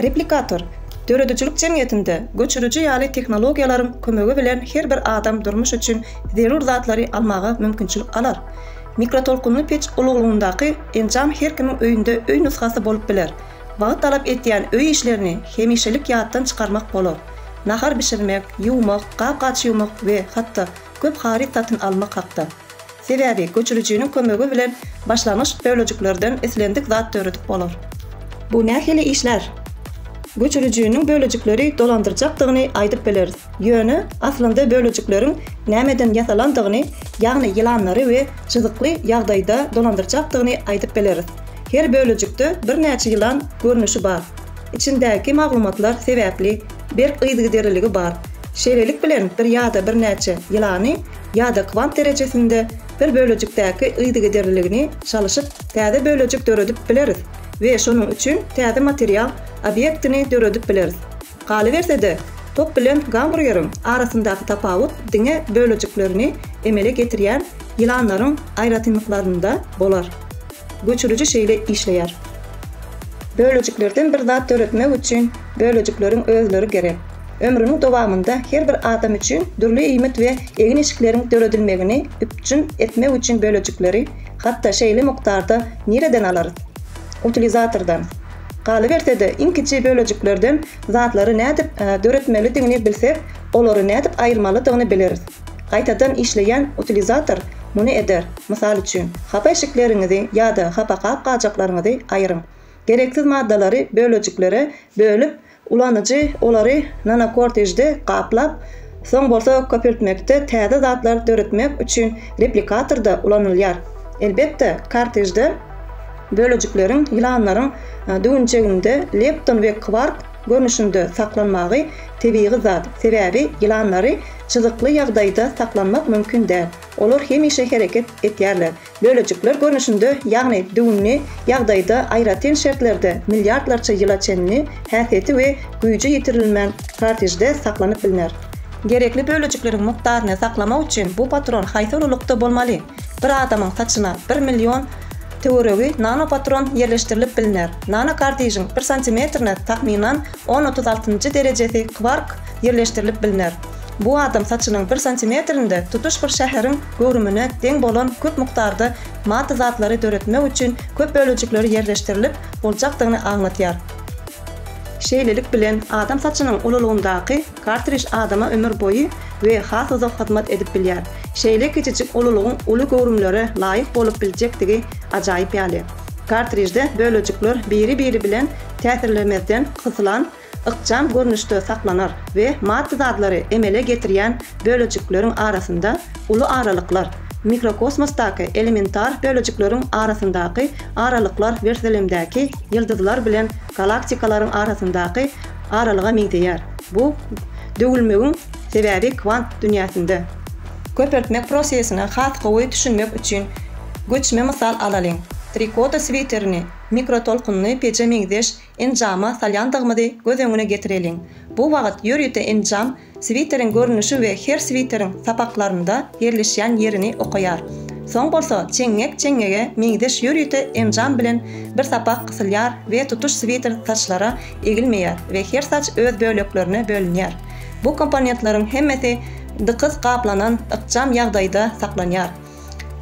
Replikator, döredijilik jemgyýetinde göçüriji ýaly tehnologiýalaryň kömegi bilen her bir adam durmuş üçin zerur zatlary almaga mümkinçilik alar. Mikrotolkunly peç uluglygyndaky enjam her kimiň öýünde öý nusgasy bolup biler. Wagt talap etýän öý işlerini hemişelik ýatdan çykarmak bolar. Nahar bişirmek, ýuwmak, gap-gaç ýuwmak we hatda köp haryt satyn almak hakda. Sebäbi göçürijiniň kömegi bilen başlangyç bölejiklerden islendik zat döredip bolar. Bu nähili işlär? Göçürijiniň bölejikleri dolandyrjakdygyny aýdyp bileris. Ýöne aslynda bölejikleriň nämeden ýasalandygyny, ýagny ýylanlary we çyzykly ýagdaýda dolandyrjakdygyny aýdyp bileris. Her bölejikde birnäçe ýylan görnüşi bar. Içindäki maglumatlar sebäpli berk yzygiderliligi bar. Şeýlelik bilen bir ýa-da birnäçe ýylany ýa-da kwant derejesinde bir bölejikdäki yzygiderliligini çalyşyp täze bölejik döredip bileris we şonuň üçin täze material obýektini döredip bileris. Galyberse-de, top bilen gamburgeriň arasyndaky tapawut diňe bölejiklerini emele getirýän ýylanlaryň aýratynlyklarynda bolar. Göçüriji şeýle işleýär. Bölejiklerden bir zat döretmek üçin bölejikleriň özleri gerek. Ömrüniň dowamynda her bir adam üçin dürli iýmit we egin-eşikleriň döredilmegini üpjün etmek üçin bölejikleri hatda şeýle mukdarda nireden alarys? Utilizatordan. Galyberse-de, iň kiçi bölejiklerden zatlary nädip döretmelidigini bilsek, olary nädip aýyrmalydygyny bileris. Gaýtadan işleýän utilizator muny eder, mysal üçin, hapa eşikleriňizi ýa-da hapa gap-gajaklaryňyzy aýyryň. Gereksiz maddalary bölejiklere bölüp, Ulanyjy olary nanokortejde gaplap, soň bolsa köpeltmekde täze zatlar döretmek üçin replikatorda ulanylýar. Elbetde, kortejde bölejikleriň ýylanlaryň düwünçeginde lepton we kwark görnüşinde saklanmagy tebigy zat, sebäbi ýylanlary çyzykly ýagdaýda saklanmak mümkin däl, olar hemişe hereket etýärler, Bölejikler görnüşinde, ýagny düwünli ýagdaýda aýratyn şertlerde milliardlarça ýyla çenli häsiýeti we güýji ýitirilmän kartrijde saklanyp bilner. Gerekli bölejikleriň mukdaryny saklamak üçin bu patron haýsy ululykda bolmaly? Bir adamyň saçyna bir million töweregi nanopatron ýerleşdirilip bilner. Nanokartrijiň bir santimetrine takmynan on otuz altynjy derejesi kwark ýerleşdirilip bilner. Bu adam saçynyň bir santimetrinde tutuş bir şäheriň göwrümine deň bolan köp mukdarda maddy zatlary döretmek üçin köp bölejikleri ýerleşdirilip boljakdygyny aňlatýar. Şeýlelik bilen, adam saçynyň ululygyndaky kartrij adama ömür boýy we has uzak hyzmat edip bilýär. Şeýle kiçijik ululygyň uly göwrümlere laýyk bolup biljekdigi ajaýyp ýaly. Kartrijde bölejikler biri-biri bilen täsirlemezden gysylan ykjam görnüşde saklanar we maddy zatlary emele getirýän bölejikleriň arasynda uly aralyklar, mikrokosmosdaky elementar bölejikleriň arasyndaky aralyklar werselemdäki ýyldyzlar bilen galaktikalaryň arasyndaky aralyga meňzeýär. Bu döwülmegiň sebäbi kwant dünýäsinde. Köpeltmek prosesine has gowy düşünmek üçin göçme mysal alalyň. Trikota switerini mikrotolkunly peje meňzeş Enjama salýandygymyzy göz öňüne getireliň. Bu wagt ýörite enjam switeriň görnüşi we her switeriň sapaklarynda ýerleşýän ýerini okaýar. Soň bolsa çeňňek çeňňege meňzeş ýörite enjam bilen bir sapak gysylýar we tutuş switer saçlara egilmeýär we her saç öz böleklerine bölünýär. Bu komponentleriň hemmesi dykyz gaplanan ykjam ýagdaýda saklanýar.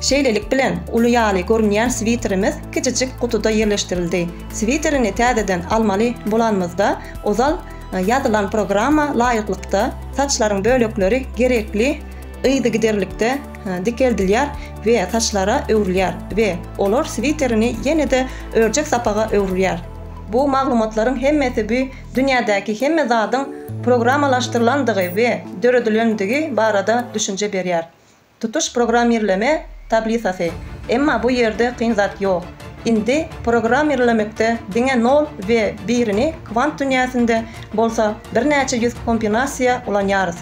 Şeýlelik bilen, uly ýaly görünýän switerimiz kiçijik gutuda ýerleşdirildi. Switerini täzeden almaly bolanymyzda, ozal ýazylan programma laýyklykda saçlaryň bölekleri gerekli yzygiderlikde dikeldilýär we saçlara öwrülýär we olar switerini ýene-de örjek sapaga öwrülýär. Bu maglumatlaryň hemmesi bu dünýädäki hemme zadyň programmalaşdyrylandygy we döredilendigi barada düşünje berýär. Tutuş programmirleme tablisasy. Emma bu ýerde kyn zat ýok. Indi programmirlemekde diňe nol we birini kwant dünýäsinde bolsa birnäçe ýüz kombinasiýa ulanýarys.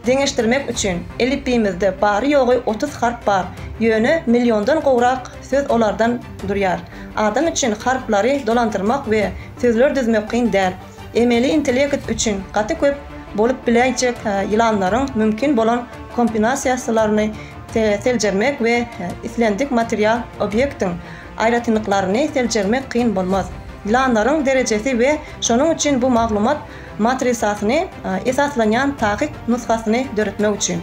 Deňeşdirmek üçin, elipbiýimizde bary-ýogy otuz harp bar, ýöne milliondan gowrak söz olardan durýar. Adam üçin harplary dolandyrmak we sözler düzmek kyn däl. emeli intellekt üçin gaty köp bolup biläýjek ýylanlaryň mümkin bolan kompinasiýasylaryny seljermek we islendik material obýektiň aýratynlyklaryny seljermek kyn bolmaz. Ýylanlaryň derejesi we şonuň üçin bu maglumat matrisasyny esaslanýan takyk nusgasyny döretmek üçin.